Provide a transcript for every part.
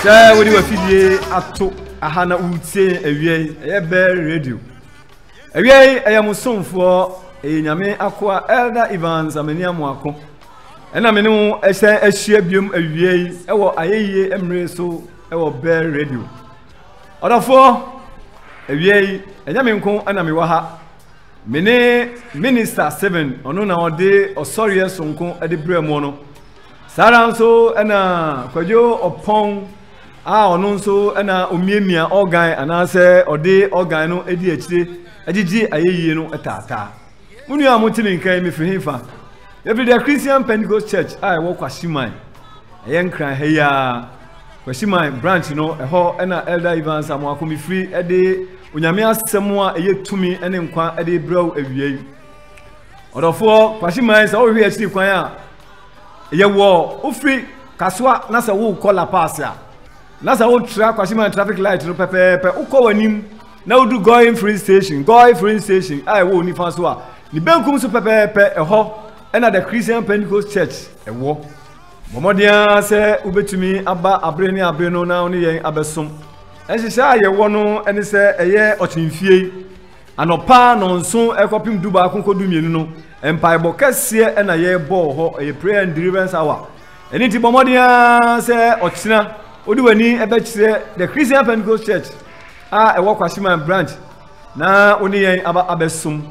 sɛ wode wafidie ato aha na woretie yɛn awia yi ɛyɛ bɛɛ radio awia yi ɛyɛ mo somfoɔ ɛyɛ nyame akoa elder evans amani amoako ɛna me ne wo ɛsɛ ahyia biom awia yi ɛwɔ ayɛyie mmere so ɛwɔ bɛɛ radio ɔdɔfoɔ awia yi ɛnyɛ me nko ɛna mewɔ ha me ne minister seven ɔno na ɔde ɔsɔreɛ sonko ɛde brɛ mu no Saa ara nso na Kwadwo Ɔpɔn a ɔno nso na omiamia ɔgan anaasɛ ɔde ɔgan no di akyire gyegye ayɛyie no taataa. Mo nua a mote me nka yi, mefiri hefa? Yɛfiri The Christian Pentecost Church a ɛwɔ Kwahyeman. Ɛyɛ Nkran ha yi ara. Kwahyeman branch no, ɛhɔ na Elder Evans Amoako mefiri de Onyame asɛm a ɛyɛ tumi ne nkwa de brɛ wo awia yi. Ɔdɔfoɔ Kwahyeman sɛ wohwehwɛ akyiri kwan a, yɛwɔ wofiri kasoa na sɛ worekɔ la pass a na sɛ wotra kwasiman traffic light no pɛpɛɛpɛ wokɔ w'anim na wodu goi free station goi free station a ɛwɔ wo nifa so a ne benkum so pɛpɛɛpɛ ɛhɔ ɛna the christian pentecost church ɛwɔ bɔmmɔden ara sɛ wobɛtumi aba abere ne abere no na wo ne yɛn abɛsom nhyehyɛ a yɛwɔ no ɛne sɛ ɛyɛ ɔkyemfie Anɔpa nnɔnson kɔpem dubaako kɔ dumienu no, mpaebɔ kɛseɛ na yɛbɔ wɔ hɔ. Ɛyɛ prayer and deliverance hour. Ɛno nti bɔ mmɔden ara sɛ ɔkyena wode w'ani bɛkyerɛ the Christian Pentecost Church a ɛwɔ Kwasiman branch na wo ne yɛn aba abɛsom.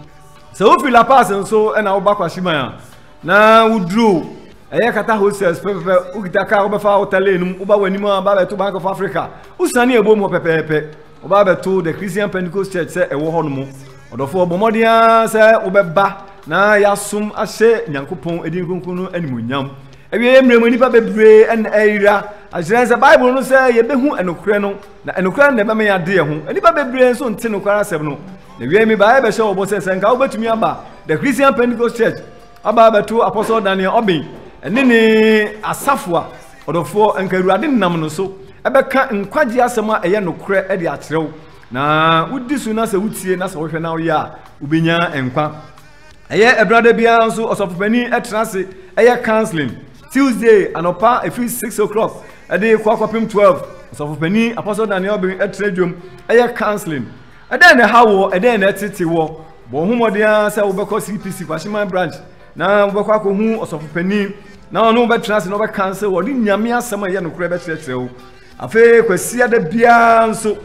Sɛ wofiri La Paz nso na woba Kwasiman a na woduru ɛyɛ kata hostels pɛpɛpɛ wokita kaa wobɛfa wota lane no mu woba w'anim a ba bɛto Bank of Africa wosane ɛbom hɔ pɛpɛɛpɛ Wɔba bɛto The Christian Pentecost Church sɛ ɛwɔ hɔ no mu. Ɔdɔfoɔ, bɔ mmɔden ara sɛ wobɛba na yɛasom ahyɛ Nyankopɔn edin kronkron no animuonyam. Awie mmerɛ mu nnipa bebree ɛna ɛyera. Akyerɛ sɛ Bible no sɛ yɛbɛhu ɛnokorɛ no, na ɛnokorɛ no na ɛbɛma yɛade ɛho. Nnipa bebree nso nte nokware asɛm no. Na awie mi baeɛ bɛhyɛ wɔbɔ sɛ sɛ nka wobɛtumi aba The Christian Pentecost Church aba abɛto Apostle Daniel Obeng ɛne ne asafo a Ɔdɔfoɔ, anka Awurade nam no so bɛka nkwagyeɛ asɛm a ɛyɛ nokorɛ de akyerɛ wo, na wodi so na sɛ wotie na sɛ wohwɛ na woyɛ a, wobɛnya nkwa. Ɛyɛ ɛberɛ da biara nso ɔsɔfopanin ɛtena ase ɛyɛ counseling Tuesday anɔpa ɛfiri 6 o'clock ɛde kɔ akɔpem 12 ɔsɔfopanin Apostle Daniel Obeng ɛtena dwom ɛyɛ counseling. Ɛdɛn na ɛha wɔ ɛdɛn na ɛtete wɔ bɔ ho mmɔden ara sɛ wobɛkɔ CPC Kwahyeman branch Na wobɛkɔ akɔhu ɔsɔfo panin, na ɔne wo bɛtena ase na ɔbɛka sɛ wɔde nyame asɛm a ɛyɛ nokorɛ bɛkyerɛkyerɛ wo afei kwasia da biara nso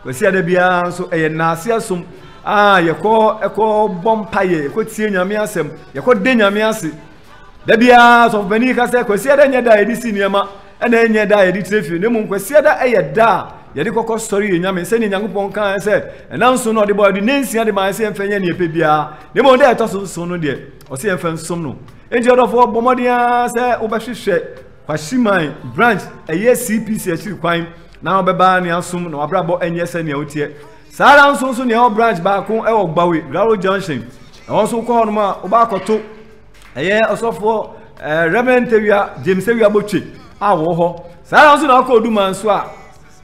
kwasia da biara nso ɛyɛ nnaase asom a yɛkɔ ɛkɔ bɔ mpaeɛ yɛkɔ tie nyame asɛm yɛkɔ de nyame ase da biara sɔfo panin ka sɛ kwasia da nyɛ da a yɛde si nneɛma Ɛna ɛnyɛ da a yɛde tire fie, na mmom Kwasiada yɛ da a yɛde kɔkɔ sɔre yɛ Nyame, sɛdeɛ Nyankopɔn kaeɛ sɛ, Ɛna nson na ɔde bɔɔ, ɔde nansia de maaɛ sɛ yɛmfa nyɛ deɛ yɛpɛ biara, na mmom da a ɛtɔ so nson no deɛ, ɔse yɛmfa nsom no. Enti ɔdɔfoɔ, bɔ mmɔden ara sɛ wobɛhwehwɛ Kwahyiman branch, ɛyɛ CPC akyiri kwan, na wobɛba ne asom na wabrabɔ anyɛ sɛ nea woteɛ. Saa ara nso nso na ɛwɔ branch baako ɛwɔ Gbawe, Graro Junction, ɛhɔ nso wokɔ hɔ nom a, wobɛakɔto Ɛyɛ ɔsɔfoɔ ɛɛ Reverend Tewia James Tewia Botwe a wɔwɔ hɔ. Saa ara nso na ɔkɔ Oduma nso a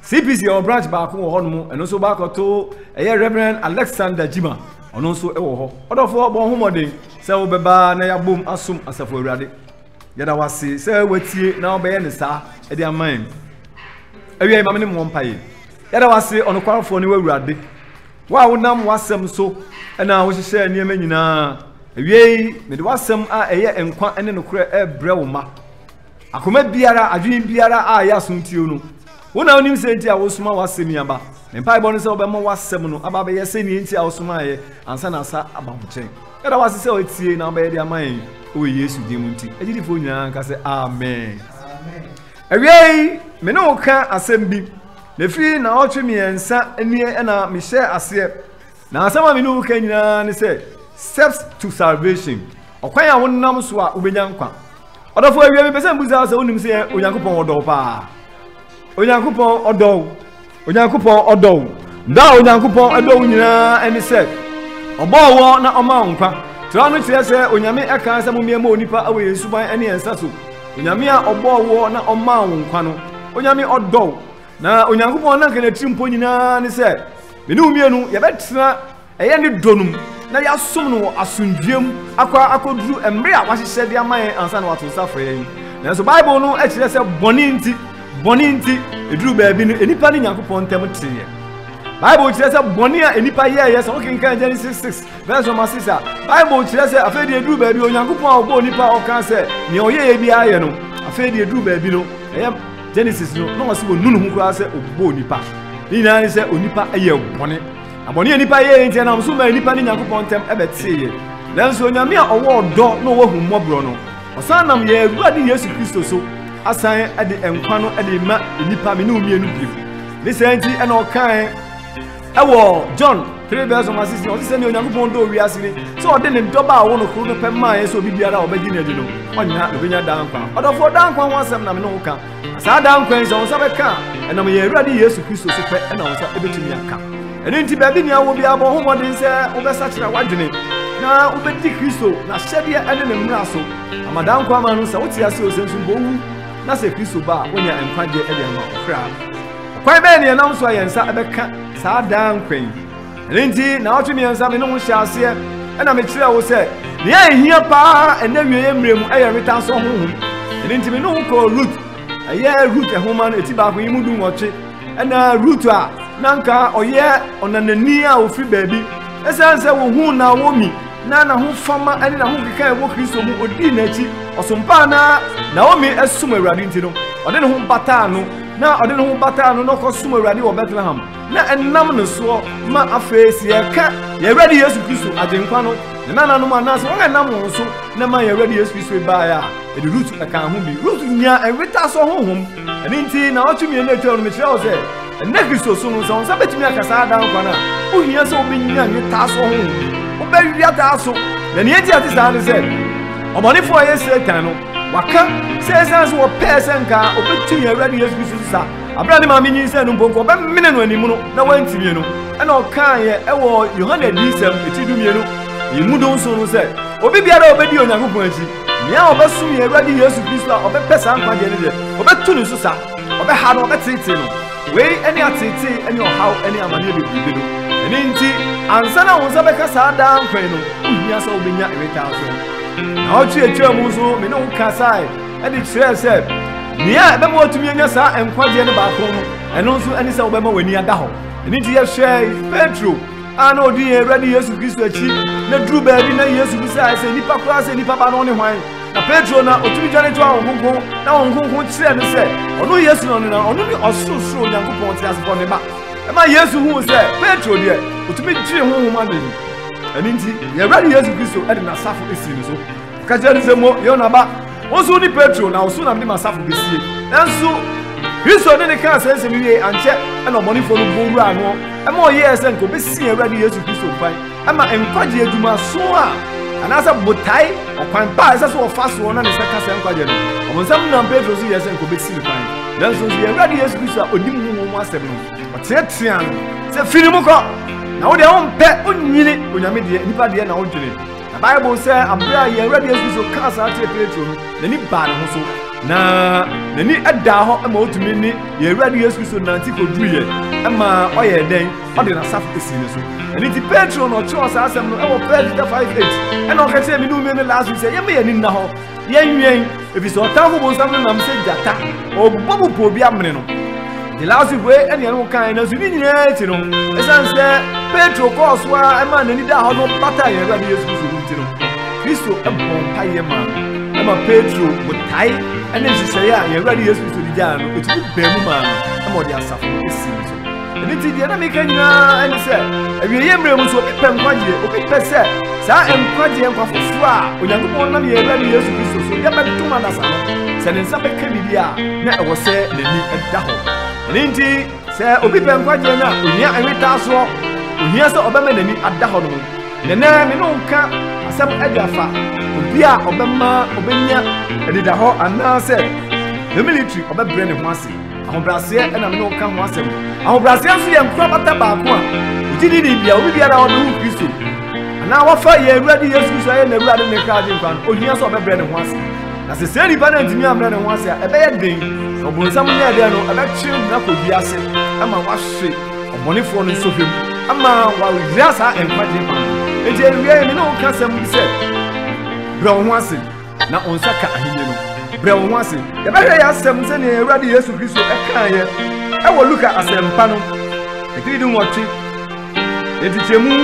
CPC ɛwɔ branch baako wɔ hɔnom ɛno nso baakɔto ɛyɛ Reverend Alexander Jima ɔno nso ɛwɔ hɔ. Ɔdɔfoɔ bɔ ho mmɔden sɛ wobɛba na yɛabom asom asafo awurade. Yɛda wase sɛ watie na wobɛyɛ ne saa ɛde ama yɛn. Awia yi ma me ne mo mpaeɛ. Yɛda wase ɔnokwarefoɔ ne w'awurade. Wo a wonam w'asɛm so na wohyehyɛɛ nneɛma nyinaa, awiei mede w'asɛm a ɛyɛ nkwa ne nokorɛ rebrɛ wo mma. Akoma biara, adwene biara a ɛyɛ asomtuo no, wo na wonim sɛ nti a wosoma w'asɛm yi aba. Me mpaebɔ no sɛ wobɛma w'asɛm no aba bɛyɛ sɛ nea nti a wosomaeɛ ansa na asa aba wo nkyɛn. Yɛda w'ase sɛ woatie na wobɛyɛ de ama yɛn wɔ Yesu din mu nti. Agyidifoɔ nyinaa nka sɛ Amen. Awiei, me ne wo ka asɛm bi. Efi nnawɔtwe mmiɛnsa nie na mehyɛɛ aseɛ, na asɛm a me ne wo reka nyinaa ne sɛ steps to salvation, ɔkwan a wonam so a wobɛnya nkwa. Ɔdɔfo awia mepɛ sɛ mbusa sɛ wonim sɛ Onyankopɔn ɔdɔ wo paa. Onyankopɔn ɔdɔ wo. Onyankopɔn ɔdɔ wo. Dɔ a Onyankopɔn ɛdɔ wo nyinaa ɛne sɛ ɔbɔɔ wɔ na ɔmaa wo nkwa. Tra no kyerɛ sɛ Onyame ɛkaa sɛ mommeɛmmɔ onipa wɔ yɛn suban ɛne yɛn nsa so. Onyame a ɔbɔɔ woɔ na ɔmaa wo nkwa no, Onyame ɔdɔ wo. Na Onyankopɔn nanka n'atirimpɔ nyinaa ne sɛ, me ne wo mmienu yɛbɛtena ɛyɛ ne dɔ no mu na yɛasom no wɔ asomdwoeɛ mu akɔ akɔduru mmerɛ a wahyehyɛ de ama yɛn ansa na wato nsa afrɛ yɛn. Nanso Bible no kyerɛ sɛ bɔne nti, bɔne nti, ɛduru baabi no, nnipa ne Nyankopɔn ntam teeɛ. Bible kyerɛ sɛ bɔne a nnipa yɛɛyɛ, sɛ wokenkan Genesis 6, Verse number six a Bible kyerɛ sɛ afei deɛ eduru baabi Onyankopɔn a ɔbɔɔ nipa a ɔka sɛ nea ɔyɛyɛ biara yɛ no afei deɛ eduru baabi no ɛyɛ Genesis no na ɔsɛ wɔnu ne ho koraa sɛ ɔbɔɔ nipa ne nyinaa ne sɛ onipa yɛ bɔne na bɔne a nipa yɛɛ nti ɛnam so maa nipa ne Nyankopɔn ntam ɛbɛteeɛ nanso onyame a ɔwɔ ɔdɔ na ɔwɔ ahummɔborɔ no ɔsan nam yɛn awura ne Yesu Kristo so asan de nkwa no de ma nipa me ne wo mmienu bio ne saa nti ɛna ɔkae ɛwɔ john 3 verse number 16 ɔse sɛnea onyankopɔn dɔ wiase ni sɛ ɔde ne dɔba a ɔwɔ no koro no pɛ maaeɛ sɛ obi biara a ɔbɛgye no adi no ɔnya ɔbɛnya daa nkwa ɔdɔfoɔ daa nkwa ho asɛm na me ne wo ka saa daa nkwa yi sɛ wo nsa bɛka a ɛnam yɛn awurade yesu kristo so pɛ ɛna wo nsa ɛbɛtumi aka ɛno nti baabi nea wɔ biara bɔ ho mmɔden sɛ wobɛsakyera w'adwene na wobɛdi kristo na hyɛdeɛ ɛne ne mmara so ama daa nkwa ama no sɛ wote ase o sɛ nso mpo wu na sɛ kristo ba a wonya nkwagyeɛ ɛde ama ɔkra Ɔkwan bɛn na yɛnam so a yɛn nsa bɛka saa daa nkwa yi? Ɛno nti, nnawɔtwe mmiɛnsa me ne wo hyɛɛ aseɛ na mekyerɛɛ wo sɛ nea ɛhia paa ɛnna awieeɛ mmerɛ mu yɛ wetansɔ honhom. Ɛno nti, me ne wo kɔɔ Rut, ɛyɛ Rut nhoma no eti baako yi mu du nwɔtwe, ɛna Rut a na anka ɔyɛ ɔnanani a ɔfiri baabi. Ɛsiane sɛ wɔhuu Naomi na n'ahofama ne n'ahokeka a ɛwɔ Kristo mu ɔdii n'akyi, ɔsompaa na Naomi som Awurade nti no, ɔde ne ho bataa no. Na ɔde ne ho bataa no na ɔkɔsom Awurade wɔ Bethlehem, na ɛnam ne soɔ ma afei sɛ yɛka yɛn Awurade Yesu Kristo, Agyenkwa no, ne nananom anaasɛ wɔn a ɛnam wɔn so na ɛmaa yɛn Awurade Yesu Kristo baeɛ a, ɛde Rut ɛkaa ho bi. Rut nyaa ɛnwetasoɔ honhom. Ɛno nti, nnawɔtwe mmienu a ɛtwam no, mekyerɛɛ wo sɛ, ɛnnɛ Kristo so no, sɛ wo nsa bɛtumi aka saa daa nkwa no a, wohia sɛ wobɛnya nwetasoɔ honhom. Wobɛwea taa so. Na nea enti a ɛte saa ne sɛ, ɔbɔnefoɔ a ɛyɛ Satan no, Waka sɛ ɛsiane sɛ wɔpɛɛ sɛ nka wɔbɛtu yɛn Awurade Yesu Kristo so sa, abere a ne maame nyinsɛn no mpo nka wɔbɛmene no anim no, na wɔantimie no, ɛna ɔkaeɛ ɛwɔ Yohane Adiyisɛm ɛti dumienu ɛmu dunson no sɛ, Obi biara a ɔbɛdi Onyankopɔn akyi, nea ɔbɛsom yɛn Awurade Yesu Kristo a ɔbɛpɛ saa nkwagyeɛ no deɛ, wɔbɛtu ne so sa, wɔbɛha no, wɔbɛteetee no. Wei ɛne ateetee ɛne ɔhaw ɛne amaneɛ bebrebe no. Ɛno nti, ansa na wo nsa bɛka saa daa nkwa yi no, wohia sɛ wobɛnya ɛwetaasoɔ. Naawɔtwe a etwaa mu nso, me ne wo kasae de kyerɛɛ sɛ nea ɛbɛma watumi anya saa nkwagyeɛ no baako no, ɛno nso ne sɛ wobɛma w'ani ada hɔ. Ɛno nti yɛhwɛe Petro a na ɔdi yɛn Awurade Yesu Kristo akyi na duru baabi na Yesu bisae sɛ nnipa koraa sɛ nnipa ba no ne hwan. Na Petro na ɔtumi dwane toa wɔn kronkron na wɔn kronkron kyerɛɛ no sɛ ɔno Yesu no na ɔno ne ɔsorosoro Onyankopɔn teasefɔ ne ba. Ɛma Yesu huu sɛ Petro deɛ ɔtumi gyee honhom adwene mu. Ɛno nti, yɛn Awurade Yesu Kristo de n'asafo sii no so. Ɔka kyerɛɛ no sɛ, Mo, Yona ba, wo nso wone Petro, na wo so na mede m'asafo besie. Nanso, Kristo ne ne kaa saa nsɛm yi wie ankyɛ na ɔbɔnefoɔ no bɔ wuraa no ma ɔyɛɛ sɛ nka ɔbɛsi yɛn Awurade Yesu Kristo mpan ma nkwagye adwumaso a anaasɛ botae ɔkwan pa a ɛsɛ sɛ ɔfa soɔ na ne nsa ka saa nkwagye no ɔbonsam nam Petro so yɛɛ sɛ nka ɔbɛsi ne kwan nanso nso yɛn Awurade Yesu Kristo a ɔnim honhom mu asɛm no Ɔteateaa no sɛ, Fi ne mu kɔ! Na wo deɛ wompɛ, wonyini Onyame deɛ, nnipa deɛ na wodwene. Na Bible sɛ aberɛ a yɛn Awurade Yesu Kristo kaa saa kyerɛ Petro no, n'ani baa ne ho so, na n'ani daa hɔ ma ɔtumi ne yɛn Awurade Yesu Kristo nante kɔduruiɛ ma ɔyɛɛ dɛn? Ɔde n'asafo sii ne so. Ɛno nti Petro na ɔkyerɛw saa asɛm no wɔ 1 Peter 5:8 ɛna ɔka kyerɛ me ne wo nua no last week sɛ yɛmma yɛn ani nna hɔ Yɛnwɛn, ɛfiri sɛ ɔtamfo bonsam no nam sɛ gyata, ɔbɔ po pɔ obi amene no. The last week wei ɛne ɛne wo kan nanso ne nyinaa akyi no ɛsiane sɛ petro kɔɔ so a ɛma n'ani daa hɔ no bata yɛn awurade yesu kristo no nti no kristo ɛbɔ mpaeɛ ma no ɛma petro botae ɛne nhyehyɛeɛ a yɛn awurade yesu kristo de gyaa no ɛtumi baa mu maa no ɛma ɔde asafo no ɛsi so ɛno nti deɛ na meka nyinaa ne sɛ awieeɛ mmerɛ mu so obi pɛ nkwagyeɛ obi pɛ sɛ saa nkwagyeɛ nkwa foforɔ a onyankopɔn nam yɛn awurade yesu kristo so yɛbɛdom adasa no sɛ ne nsa bɛka biribi a na ɛwɔ sɛ n'ani da hɔ ɛno nti sɛ obi pɛ nkwagyeɛ no a ohia ɛnwetaa soɔ ohia sɛ ɔbɛma n'ani ada hɔ no mu nenɛ me ne nka asɛm adi afa obi a ɔbɛma ɔbɛnya anidahɔ anaasɛ the military ɔbɛbrɛ ne ho ase Ahobrɛaseɛ na me ne wo ka ho asɛm. Ahobrɛaseɛ nso yɛ nkwa bata baako a ogyidi ne bia obi biara a ɔde wo Kristo anaa wafa yɛn Awurade Yesu Kristo ayɛ n'Awurade ne kra agye nkwa no, ohia sɛ ɔbɛbrɛ ne ho ase. Na sɛ saa nipa no antumi ambrɛ ne ho ase a, ɛbɛyɛ den na ɔbonsam no yɛ dɛn no, ɛbɛkye no akɔ wiase ama wahwe ɔbɔnefoɔ no nsɔhwɛ mu ama wayera saa nkwagye nkwa no. Enti awiei, me ne wo ka asɛm bi sɛ, brɛ wo ho ase. Na wo nsa ka ahenni no. Brɛ wo ho ase. Yɛbɛhwɛ yɛ asɛm sɛnea yɛn Awurade Yesu Kristo kaeɛ wɔ Luka Asɛmpa no ɛtiri dunwɔtwe nkyekyɛmu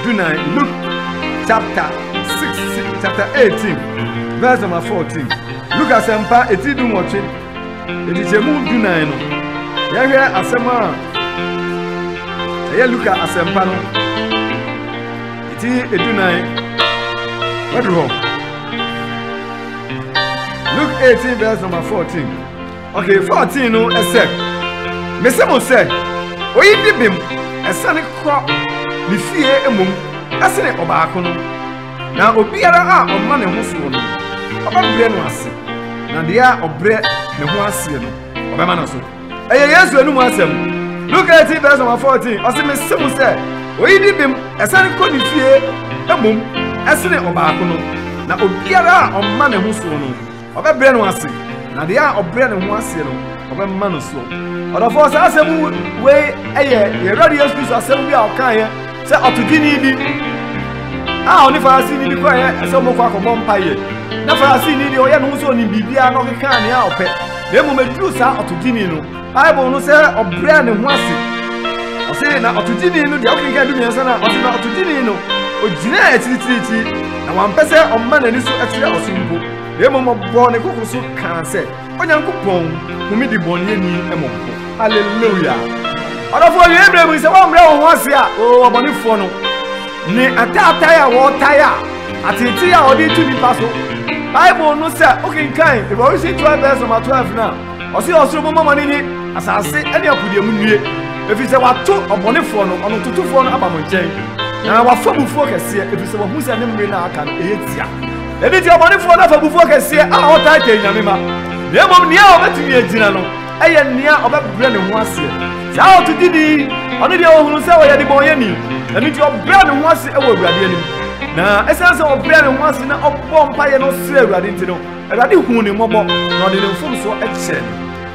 dunan, Luke chapter 6, chapter 18, verse number 14. Luka Asɛmpa ɛtiri dunwɔtwe nkyekyɛmu dunan no, yɛhwɛ asɛm a ɛyɛ Luka Asɛmpa no ɛtiri dunan, wadu hɔ. Luke 18 verse number 14. Okay, 14 no ɛsɛ. Mese mo sɛ, oyi di bem ɛsane kɔ ne fie mmom ɛsene ɔbaako no. Na obiara a ɔma ne ho soɔ no, ɔbɛbrɛ no ase. Na deɛ a ɔbrɛ ne ho aseɛ no, ɔbɛma no so. ɛyɛ yesu anum asɛm luke 18 verse number 14 ɔse mese mo sɛ oyi di bem ɛsane kɔ ne fie mmom ɛsene ɔbaako no na obiara a ɔma ne ho so no ɔbɛbrɛ no ase na deɛ a ɔbrɛ ne ho aseɛ no ɔbɛma no soɔ ɔdɔfoɔ saa asɛm wei ɛyɛ yɛwurade yesu kristo asɛm bi a ɔkaeɛ Sɛ ɔtodwini bi a ɔne Farisini bi kɔeɛ sɛ wɔkɔ akɔbɔ mpaeɛ, na Farisini deɛ ɔyɛ ne ho sɛ ɔnim biribiara na ɔkeka nea ɔpɛ, na mmom ɛduru saa ɔtodwini no, Bible no sɛ ɔbrɛ ne ho ase. Ɔse na ɔtodwini no deɛ wokenka du mmiɛnsa no a, ɔse na ɔtodwini no ɔgyinaa akyirikyirikyiri, na wampɛ sɛ ɔma n'ani so kyerɛ ɔso mpo, na mmom ɔbɔɔ ne koko so kaa sɛ, Onyankopɔn hu me debɔneyɛni mmɔbɔ. Hallelujah! Ɔdɔfoɔ, wiɛ berɛ mu sɛ wɔmmerɛ wo ho ase a, o ɔbɔnefoɔ no, ne ataatae a wɔtae a, atetee a wɔde tu nipa so. Bible no sɛ wokenkan Revolution 12 verse number 12 no a, ɔse ɔsoro bɔmmɔ ma no nye, asase ne apodeɛ mu nnue, ɛfiri sɛ wato ɔbɔnefoɔ no, ɔno totofoɔ no aba mo nkyɛn, na wafa bufuo kɛseɛ, ɛfiri sɛ wahu sɛ ne mmere no a aka no ɛyɛ tia. Ɛno nti, ɔbɔnefoɔ no afabufoɔ kɛseɛ a ɔtaa tɛn Nyame ma, na mmom nea a ɔbɛtumi agyina no yɛ nea ɔbɛbrɛ ne ho aseɛ. Saa ɔtogyeni yi, ɔno deɛ ɔhunu sɛ ɔyɛ debɔnyɛni, ɛno nti ɔbrɛ ne ho ase wɔ Awurade anim. Na ɛsiane sɛ ɔbrɛ ne ho ase na ɔbɔɔ mpaeɛ na ɔsrɛɛ Awurade nti no, Awurade huu ne mmɔbɔ, na ɔde ne mfomsoɔ kyɛɛ no.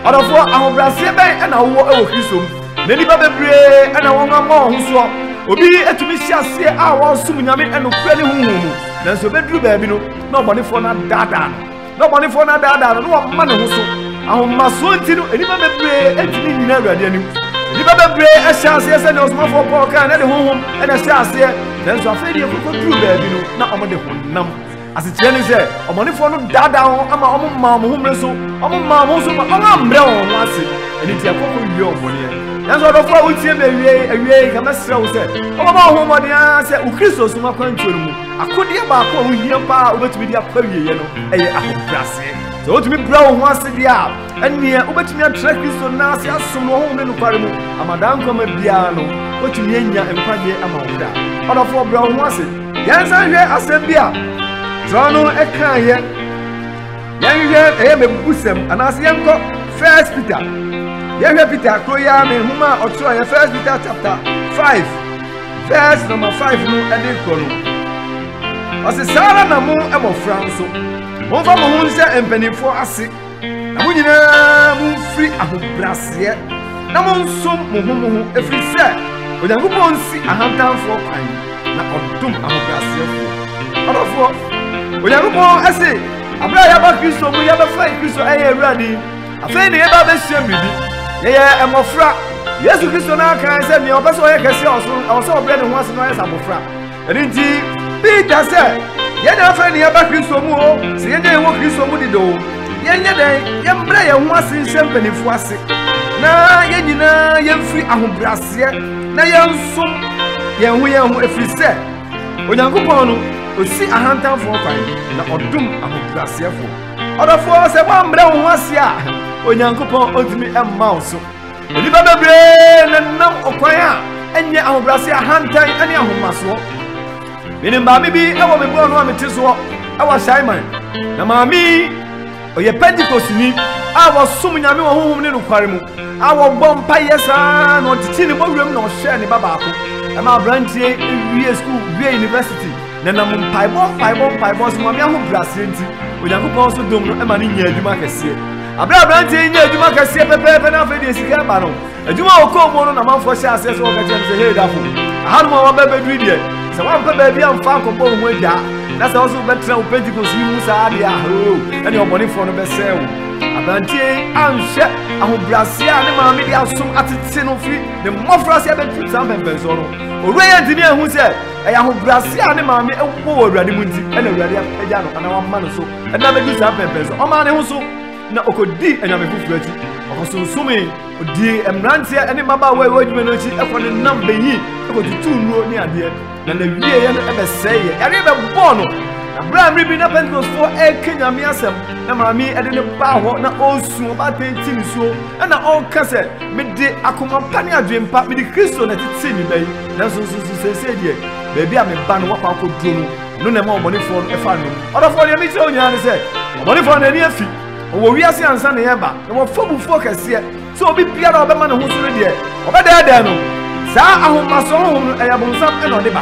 Ɔdɔfo, ahobrɛaseɛ bɛn na wowɔ wɔ Kristo mu? Na nnipa bebree na wɔama wɔn ho soɔ. Obi tumi hyɛ aseɛ a wɔresom Nyame nokorɛ ne honhom mu, nanso ɛbɛduru baabi no, na ɔbɔnefoɔ no adaadaa no, na ɔbɔnefoɔ no adaadaa no, na wama ne ho so. Ahomasoɔ nti no, nnipa bebree ntumi nnyina Awurade anim. Nnipa bebree hyɛ aseɛ sɛdeɛ ɔsomafoɔ Paul kae na ɛde honhom na ɛhyɛ aseɛ, nanso afei deɛ ɛkɔkɔduru baabi no, na wɔde honam Asekyerɛ ne sɛ, ɔbɔnefoɔ no daadaa wɔn ma wɔmaa wɔn ho mmere so, wɔmaa wɔn ho so ma wɔammrɛ wɔn ho ase, ɛno nti ɛkɔ kɔ wie wɔn bɔneɛ. Nanso ɔdɔfoɔ a wotie me awiei awiei, nka mɛsrɛ wo sɛ wobɛbɔ wo ho mmɔden ara sɛ wo Kristosom akwantuo no mu akodeɛ baako a wohia paa a wobɛtumi de akɔ awieeɛ no yɛ ahobrɛaseɛ. Sɛ wotumi brɛ wo ho ase deɛ a, ɛnneɛ wobɛtumi atra Kristo nan ase asom no ɔhonhom ne nokware mu ama daa nkwa ma biara no, woatumi anya nkwagyeɛ ama wo kra. Ɔdɔfoɔ, brɛ wo ho ase. Yɛnsan nhwɛ asɛm bi a kyerɛw no kaeɛ. Yɛnhwɛ ɛyɛ mmebusɛm anaasɛ yɛnkɔ First Peter. Yɛhwɛ Peter koro yi ara ne nhoma a ɔtwerɛeɛ First Peter chapter five verse number five no ɛde korɔ no. Ɔse saa ara na mo mmɔfra nso momfa mo ho nhyɛ mpanimfoɔ ase Na mo nyinaa momfiri ahobrɛaseɛ na monsom mo ho mo ho, ɛfiri sɛ Onyankopɔn nsi ahantanfoɔ kwan, na ɔdom ahobrɛaseɛfoɔ. Ɔdɔfoɔ, Onyankopɔn ase, aberɛ a yɛaba Kristo mu, yɛbɛfa Kristo ɛyɛ Awurade, afei na yɛba abɛsua biribi. Yɛyɛ mmɔfra. Yesu Kristo no ara kae sɛ nea ɔpɛ sɛ ɔyɛ kɛseɛ wɔ soro no, ɛwɔ sɛ ɔbrɛ ne ho ase na ɔyɛ sɛ abɔfra. Ɛno nti, bi ka sɛ, Yɛn na afei na yɛaba Kristo mu o, sɛ yɛn na yɛwɔ Kristo mu dede o, yɛnyɛ dɛn, yɛmbrɛ yɛn ho ase nhyɛ mpanyimfo ase, na yɛn nyinaa yɛmfiri ahobrɛaseɛ na yɛnso yɛn ho yɛn ho, ɛfiri sɛ Onyankopɔn no, ɔsi ahantanfoɔ kwan, na ɔdom ahobrɛaseɛfoɔ. Ɔdɔfoɔ, sɛ woambrɛ wo ho ase a, Onyankopɔn ɔntumi mma wo so. Nnipa bebree nenam ɔkwan a ɛnyɛ ahobrɛase ahantan ne ahomasoɔ. Menim maame bi wɔ me bɔɔl no a mete soɔ wɔ Ahyɛaman, na maame yi ɔyɛ Pentekostini a wɔsom Nyame wɔ honhom ne nokware mu a wɔbɔ mpaeɛ saa na ɔtetee ne bɔwuram na ɔhwɛɛ ne ba baako ɛma aberanteɛ wie sukuu wie university na nam mpaebɔ mpaebɔ mpaebɔ so maame ahobrɛaseɛ nti Onyankopɔn so dom no ɛma ne nya adwuma kɛseɛ Bere a aberanteɛ yi nya adwuma kɛseɛ pɛpɛɛpɛ na afei deɛ sika ɛba no adwuma a ɔkɔɔ mu no na manfoɔ hyɛ aseɛ sɛ wɔka kyerɛ no sɛ hei dafo ahanom a waba bɛduru deɛ sɛ woampɛ baabi amfa ankɔbɔ wo ho agya na sɛ wo so wobɛtena wo pentekost yi mu saa deɛ ahoo ɛne ɔbɔnefoɔ no bɛsɛe wo aberanteɛ yi anhwɛ ahobrɛaseɛ a ne maame de asom atete no firi ne mmɔfra sɛ ɛbɛtu saa mpɛmpɛnsoɔ no owura yɛ ntumi ahu sɛ ɛyɛ ahobrɛaseɛ a ne maame ɛwɔ wɔ awurade mu nti ɛna awurade apagya no anaa wama no so Ɛda bɛdi saa pɛmpɛn sɛ ɔmaa ne ho so na ɔkɔdii anyame foforɔ akyi. Ɔkɔsonsomee, ɔdii mmeranteɛ ne mmabaawa a ɛwɔ adwuma no akyi kɔ ne nam bɛyii kɔtutuu nnuro ne adeɛ, na n'awieeɛ no ɛbɛsɛeeɛ. Yareɛ bɛbɔɔ no. Na berɛ a mmere bi na Pentekostefoɔ ɛreka Nyame asɛm, na maame ɛde no baa hɔ na ɔresu, ɔbaatan ti nisuo, ɛna ɔreka sɛ, Mede akoma pa ne adwene pa, mede Kristo na ɛtetee me ba yi, nanso nso so seesei deɛ, baabi a me ba no wakɔ akɔduro no, Ɛno na ɛma ɔbɔnefoɔ no fa nnom. Ɔdɔfoɔ, deɛ mekyerɛ wo nyinaa ne sɛ, ɔbɔnefoɔ no ani afi, ɔwɔ wiase ansa na yɛreba, na wɔfa bufuo kɛseɛ sɛ obi biara a ɔbɛma ne ho so no deɛ, ɔbɛdɛɛdɛɛ no. Saa ahomasoɔ honhom no, ɛyɛ bonsam na ɔde ba.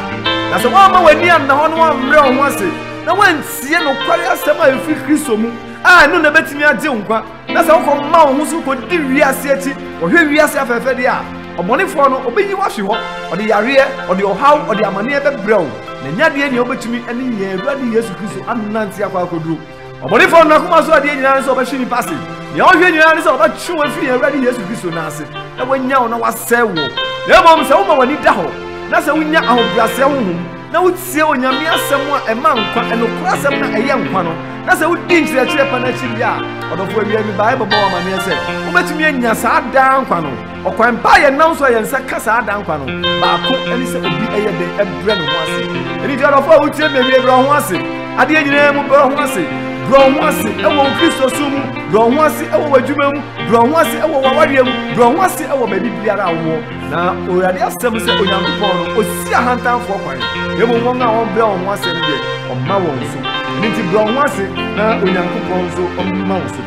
Na sɛ woamma w'ani anna hɔ na woammrɛ wo ho ase na woantie nokware asɛm a ɛfiri Kristo mu a, ɛno na ɛbɛtumi agye wo nkwa. Na sɛ wokɔma wo ho so kɔdi wiase akyi, kɔhwɛ wiase afɛɛfɛdeɛ a, ɔbɔnefoɔ no, ɔbɛyi wo ahwe hɔ, ɔde yareɛ, ɔde ɔhaw, ɔde amaneɛ bɛbrɛ wo, na ɛnyɛ adeɛ nea wobɛtumi ne yɛn Awurade Yesu Kristo anante akɔ akɔduro. Ɔbɔnefoɔ no akoma so adeɛ nyinaa ne sɛ ɔbɛhwe nnipa ase. Nea ɔhwɛ nyinaa ne sɛ ɔbɛtwe wo afiri yɛn Awurade Yesu Kristo nan ase, na wanya wo na wasɛe woɔ. Na mmom sɛ woma w'ani da hɔ, na sɛ wonya ahobrɛaseɛ honhom, na wotie Onyame asɛm a ɛma nkwa, ɛnokoro asɛm na ɛyɛ nkwa no, na sɛ wodi nkyerɛkyerɛ pa no akyi wie a, ɔdɔfo awia mi bae bɛbɔ amanneɛ sɛ wobɛtumi anya saa daa nkwa no. Ɔkwan pa a yɛnam so a yɛn nsa ka saa daa nkwa no baako ne sɛ obi yɛ den brɛ ne ho ase. Ɛno nti ɔdɔfo a wotie me awie, brɛ wo ho ase. Adeɛ nyinaa mu brɛ wo ho ase. Brɛ wo ho ase wɔ wo Kristo som mu, brɛ wo ho ase wɔ w'adwuma mu, brɛ wo ho ase wɔ w'awareɛ mu, brɛ wo ho ase wɔ baabi biara a wowɔ. Na Owurade asɛm sɛ Onyankopɔn no, osi ahantanfoɔ kwan, na mmom wɔn a wɔbrɛ wɔn ho ase no deɛ, ɔma wɔn so. Ɛno nti brɛ wɔn ho ase, na Onyankopɔn nso ɔmma wo so.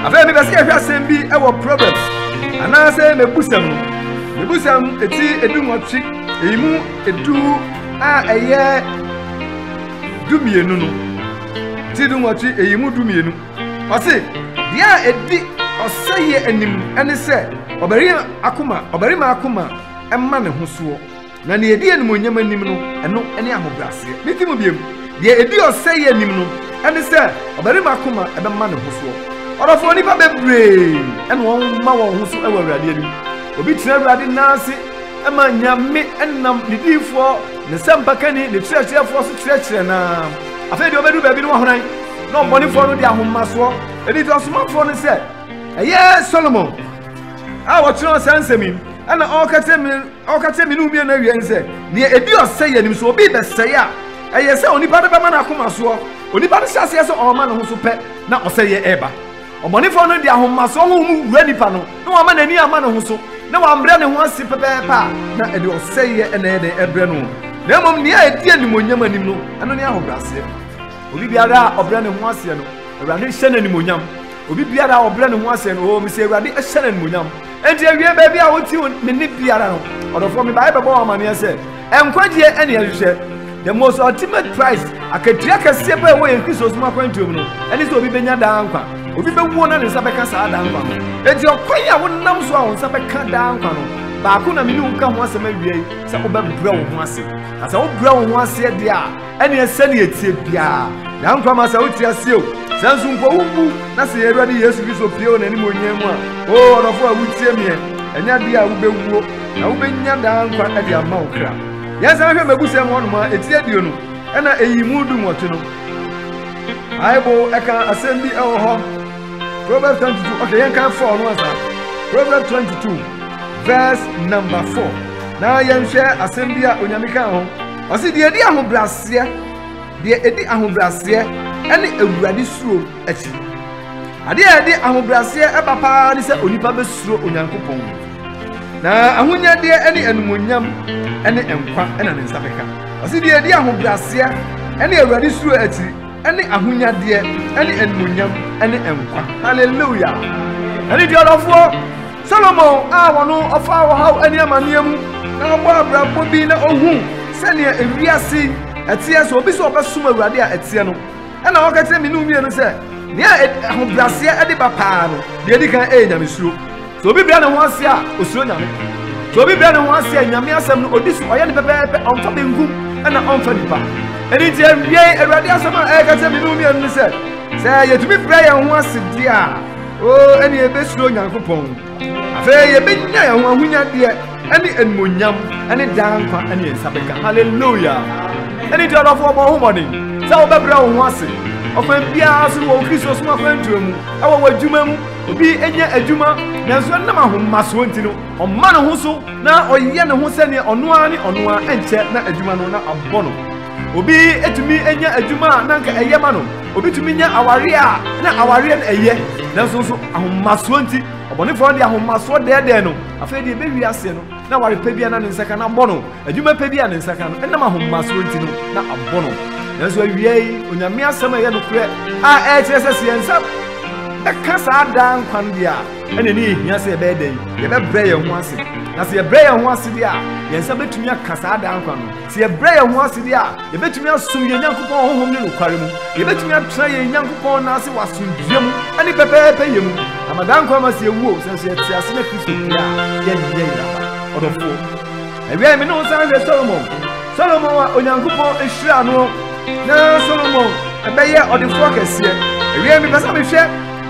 Afei mepɛ sɛ yɛhwɛ asɛm bi wɔ Proverbs anaasɛ mebusɛm no. Mebusɛm eti edu nwɔtwe, eyi mu edu a ɛyɛ du mmienu no. Ti du nwɔtwe, eyi mu du mmienu. Ɔse, Deɛ a ɛdi ɔsɛeɛ anim ne sɛ ɔbarima akoma, ɔbarima akoma ma ne ho soɔ, na deɛ ɛdi animuonyam anim no, ɛno ne ahobrɛaseɛ. Mete mu biom, Deɛ ɛdi ɔsɛeɛ anim no ne sɛ ɔbarima akoma bɛma ne ho soɔ. Ɔdɔfoɔ, nnipa bebree na wɔma wɔn ho so wɔ Awurade anim. Obi tena Awurade nan ase ma Nyame nam ne diyifoɔ, ne sɛmpakanni, ne kyerɛkyerɛfoɔ so kyerɛkyerɛ no ara. Afei deɛ ɔbɛduru baabi no wɔhoran na ɔmmɔnefoɔ no de ahomasoɔ ɛdi deɛ ɔsomafoɔ no sɛ ɛyɛ Solomon a wɔtwerɛ saa nsɛm yi ɛna ɔreka kyerɛ me ɔreka kyerɛ me ne mmienu awie sɛ deɛ ɛdi ɔsɛ yɛ nim so obi bɛsɛe a ɛyɛ sɛ onipa no bɛma no akoma soɔ onipa no hyɛ aseɛ sɛ ɔrema ne ho so pɛ na ɔsɛ yɛ ɛreba Ɔbɔnefɔ no de ahomasoɔ honhom wura nipa no na wama n'ani ama ne ho so na wambrɛ ne ho ase pɛpɛɛpɛ a, na ɛde ɔsɛeɛ na ɛyɛ dɛn ɛbrɛ no, na mmom nea ɛdi animuonyam anim no, ɛno ne ahobrɛaseɛ. Obi biara a ɔbrɛ ne ho aseɛ no, Awurade hyɛ no animuonyam. Obi biara a ɔbrɛ ne ho aseɛ no, oo, mese Awurade hyɛ no animuonyam. Enti awiei baabi a wotie me nne biara no, ɔdɔfoɔ, mebaeɛ bɛbɔ wo amaneɛ sɛ, Nkwagyeɛ ne yɛn hwehwɛ. The most ultimate price, akatua kɛseɛ paa ɛwɔ yɛn Kristosom akwantuo mu no, ɛne sɛ obi bɛnya daa nkwa. Obi bɛwuo na ne nsa bɛka saa daa nkwa no. Enti ɔkwan a wonam so a wo nsa bɛka daa nkwa no, baako na me ne wo ka ho asɛm awiei, sɛ wobɛbrɛ wo ho ase. Na sɛ wobrɛ wo ho aseɛ deɛ a, Ɛneɛ sɛdeɛ ɛteɛ biara yɛn nkwa ma sɛ wote aseɛ o, sɛ nso mpo wo mmu na sɛ yɛn Awurade Yesu Kristo pue wɔ n'animuonyan mu a, o ɔdɔfo a wotie meɛ, ɛnyɛ adeɛ a wobɛwuo, na wobɛnya daa nkwa de ama wo kra. Yɛn san hwɛ mmɛbusɛm hɔnom a, ɛti aduo no ɛna ɛyi mu du nwɔtwe no, Bible ɛka asɛm bi ɛwɔ hɔ, Proverbs 22, ok yɛn kan fɔɔ no ansa, Proverbs 22 verse number 4, na yɛn hwɛ asɛm bi a onyame kaa ho, Ɔse deɛ ɛdi ahobraseɛ, deɛ ɛdi ahobraseɛ ɛne awurade suro akyi. Adeɛ a ɛde ahobraseɛ ɛba paa ne sɛ onipa bɛsuro Onyankopɔn. Na ahonyadeɛ ɛne animonyam ɛne nkwa ɛna ne nsa bɛka. Ɔse deɛ ɛdi ahobraseɛ ɛne awurade suro akyiri. Ɛne ahonyadeɛ, ɛne animuonyam, ɛne nkwa. Hallelujah! Ɛne duadɔfoɔ Solomon a wɔno ɔfaa ɔhaw ɛne amaneɛ mu na ɔbɔ abrabɔ bi na ɔhu sɛdeɛ ewiase ɛteɛ sɛ obi sɛ ɔbɛsom Awurade a ɛteɛ no ɛna ɔka kyerɛ me ne mmienu sɛ nea ahobraseɛ ɛde ba paa no deɛ ɛdi kan ɛyɛ nyamesuro Sɛ obi brɛ ne ho ase a, osuro Nyame. Sɛ obi brɛ ne ho ase a, Nyame asɛm no odi so, ɔyɛ no pɛpɛɛpɛ, ɔmfa benkum na ɔmfa nifa. Ɛno nti awiei, Awurade asɛm a ɛreka kyerɛ me ne wo mmienu ne sɛ, sɛ yɛtumi brɛ yɛn ho ase deɛ a, o, ɛne yɛbɛsuro Nyankopɔn. Afei yɛbɛnya yɛn ho ahonyadeɛ ɛne animonyam ɛne daa nkwa ɛne yɛn nsa bɛka. Hallelujah! Ɛne nti ɔdɔfoɔ bɔ ho mmɔden sɛ wobɛbrɛ wo ho ase ɔkwan biara so wɔ wo Kristo som akwantuo mu, ɛwɔ w'adwuma mu, Obi nyɛ adwuma, nanso ɛnam ahomasoɔ nti no, ɔma ne ho so na ɔyɛ ne ho sɛdeɛ ɔno ara ne ɔno ara, ɛnkyɛ na adwuma no na abɔ no. Obi tumi nya adwuma a na anka ɛyɛ ma no, obi tumi nya awareɛ a na awareɛ no ɛyɛ, nanso nso ahomasoɔ nti, ɔbɔnefoɔ no de ahomasoɔ dɛɛdɛɛ no, afei deɛ ɛbɛwie aseɛ no, na aware pa biara na ne nsa ka na abɔ no. Adwuma pa bi a ne nsa ka no, ɛnam ahomasoɔ nti no, na abɔ no. Nanso awia yi, Onyame asɛm a ɛyɛ nokorɛ a ɛkyerɛ sɛ sɛ yɛn nsa bɛka saa daa nkwa no deɛ a, ɛna ɛne ɛhia sɛ yɛbɛyɛ dɛn? Yɛbɛbrɛ yɛn ho ase. Na sɛ yɛbrɛ yɛn ho ase deɛ a, yɛn nsa bɛtumi aka saa daa nkwa no. Sɛ yɛbrɛ yɛn ho ase deɛ a, yɛbɛtumi asom yɛn Nyankopɔn honhom ne nokware mu. Yɛbɛtumi atena yɛn Nyankopɔn nan ase wɔ asomdwoeɛ mu ne pɛpɛɛpɛ yɛ mu. Ama daa nkwa ma sɛ yɛwu o, sɛ nso yɛte ase na Kristo pue a, yɛnyɛ yeraba. Ɔdɔfoɔ. Ewiei me ne wo san hwɛ Solomon. Solomon a Onyankopɔn ehyiraa no na Solomon ɛbɛyɛ ɔdefoɔ kɛseɛ. Ewiei mepɛ sɛ mehwɛ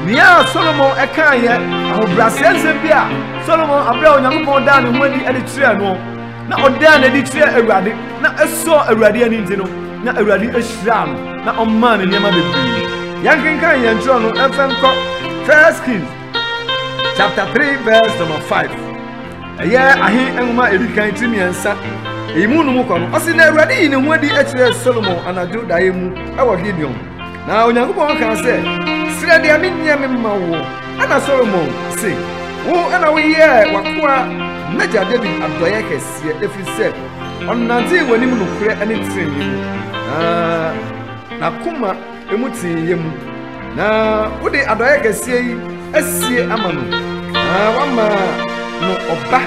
nea Solomon ɛkaa yɛ ahobrɛaseɛ nsɛm bi a Solomon abrɛ a Onyankopɔn daa ne ho adi ɛde kyerɛɛ no na ɔdaa n'adi kyerɛɛ Awurade na ɛsɔɔ Awurade ani nti no na Awurade ehyiraa no na ɔmaa ne nneɛma bebree. Yɛnkenkan yɛn twerɛ no ɛmfa nkɔ First Kings chapter three verse number five. Ɛyɛ Ahe nwoma a edi kan ti mmiɛnsa. Eyi mu no mu kwa no, ɔse, Na Awurade yii ne ho adi kyerɛɛ Solomon anadwo daeɛ mu wɔ Gibeon, na Onyankopɔn kaa sɛ, Srɛ deɛ menyɛ mema wo. Ɛnna Solomon se, Wo na woyɛɛ w'akoa m'agya Dawid adɔeɛ kɛseɛ, ɛfiri sɛ ɔnantee w'anim nokorɛ ne tenenee mu, na n'akoma mu teeyɛ mu, na wode adɔeɛ kɛseɛ yi asie ama no, na woama no ɔba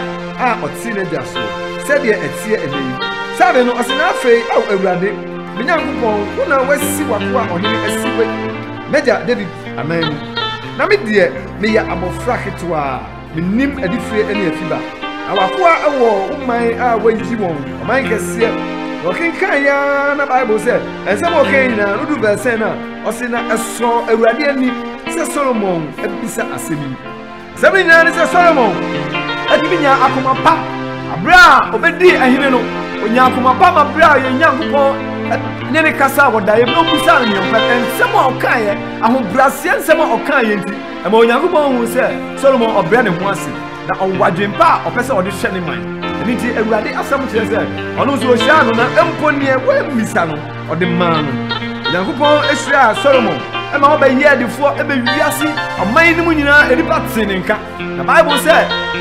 a ɔte n'agya soɔ, sɛdeɛ ɛteɛ ɛnnɛ yi. Sabe no, ɔse, Na afei, Ao Awurade, me Nyankopɔn, wo na woasi w'akoa ɔhene asi wɔ m'agya Dawid anan mu, na me deɛ, meyɛ abɔfra ketewaa. Mennim adifire ne afiba. Na w'akoa wɔ wo man a woayi wɔn, ɔman kɛseɛ. Na ɔkenkan yɛ ara na Bible sɛ nsɛm a ɔkan nyinaa no du bɛsɛn no a, ɔse na ɛsɔɔ Awurade ani sɛ Solomon abisa asɛm yi. Asɛm no nyinaa ne sɛ Solomon atumi nya akoma pa aberɛ a ɔbɛdii ahene no. Ɔnya akoma pa ma berɛ a ɔyɛ Nyankopɔn ne ne kasa a wɔdaeɛ berɛ a ɔbisaa no neɛmpa nsɛm a ɔkaeɛ ahobraseɛ nsɛm a ɔkaeɛ nti Ɛma Onyankopɔn hu sɛ Solomon ɔbrɛ ne ho ase, na ɔwɔ adwempa a ɔpɛ sɛ ɔde hwɛ ne man. Ɛno nti, Awurade asɛm kyerɛ sɛ ɔno nso ohyiraa no, na mpo nea wammisa no, ɔde maa no. Onyankopɔn hyiraa Solomon ma ɔbɛyɛɛ defoɔ ma wiase aman no mu nyinaa, nnipa tee ne nka, na Bible sɛ,